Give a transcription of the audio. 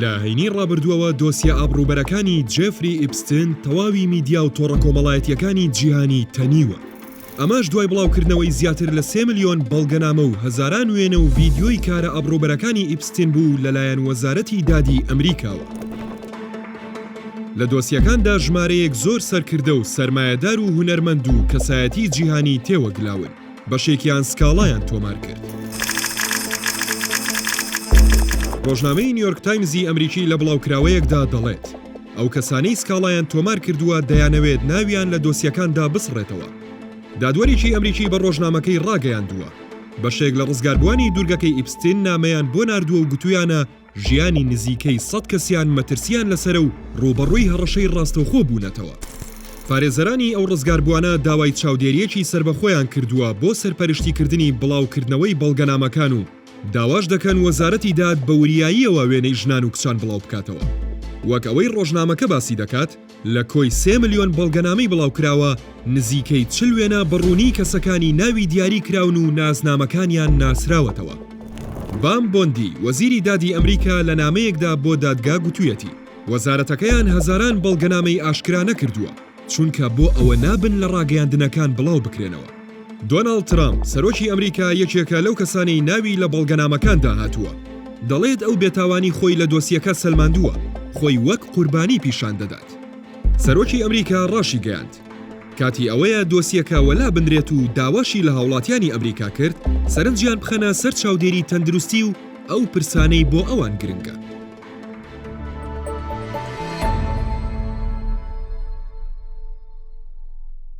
لە هەینی ڕابردووەوە دۆسیە ئابڕووبەرەکانی جێفری ئیپستن تەواوی میدیا و تۆڕە کۆمەڵایەتییەکانی جیهانی تەنیوە، ئەمەش دوای بڵاوکردنەوەی زیاتر لە سێ ملیۆن بەڵگەنامە و هەزاران وێنە و ڤیدیۆی کارە ئابڕووبەرەکانی ئیپستن بوو لەلایەن وەزارەتی دادی ئەمریکاوە. لە دۆسیەکاندا ژمارەیەک زۆر سەرکردە و سەرمایەدار و هونەرمەند و کەسایەتی جیهانی تێوەگلاون. بەشێکیان سکاڵایان تۆمار کرد. ڕۆژنامەی نیۆرک تایمزی ئەمریکی لە بڵاوکراوەیەکدا دەڵێت، ئەو کەسانەی سکاڵایان تۆمار کردووە دەیانەوێت ناویان لە دۆسیەکاندا بسڕێتەوە. دادوەرێکی ئەمریکی بە ڕۆژنامەکەی ڕاگەیاندووە، بەشێک لە ڕزگاربووانی دوورگەکەی ئیپستین نامەیان بۆ ناردووە و گوتوویانە، ژیانی نزیکەی سەد کەسیان مەترسیان لەسەرە و ڕووبەڕووی هەڕەشەی ڕاستەوخۆ بوونەتەوە. پارێزەرانی ئەو ڕزگاربووانە داوای چاودێرییەکی سەربەخۆیان کردووە بۆ سەرپەرشتیکردنی بڵاوکردنەوەی بەڵگەنامەکان و داواش دەکەن وەزارەتی داد بە وریاییەوە وێنەی ژنان و کچان بڵاوبکاتەوە وەک ئەوەی ڕۆژنامەکە باسی دەکات. لە کۆی سێ ملیۆن بەڵگەنامەی بڵاوکراوە، نزیکەی چل وێنە بە ڕوونی کەسەکانی ناوی دیاری کراون و ناسنامەکانیان ناسراوەتەوە. بام بۆندی، وەزیری دادی ئەمریکا لە نامەیەکدا بۆ دادگا گوتویەتی، وەزارەتەکەیان هەزاران بەڵگەنامەی ئاشکرا نەکردووە، چونکە بۆ ئەوە نابن لە ڕاگەیاندنەکان بڵاوبکرێنەوە. دۆناڵد ترامپ، سەرۆکی ئەمریکا یەکێکە لەو کەسانەی ناوی لە بەڵگەنامەکاندا هاتووە. دەڵێت ئەو بێتاوانی خۆی لە دۆسیەکە سەلماندووە، خۆی وەک قوربانی پیشان دەدات. سەرۆکی ئەمریکا راشیگەیاند، کاتی ئەوەیە دۆسیەکە وەلا بنرێت و داواشی لە هاوڵاتیانی ئەمریکا کرد سەرنجیان بخەنە سەر چاودێری تەندروستی و ئەو پرسانەی بۆ ئەوان گرنگە.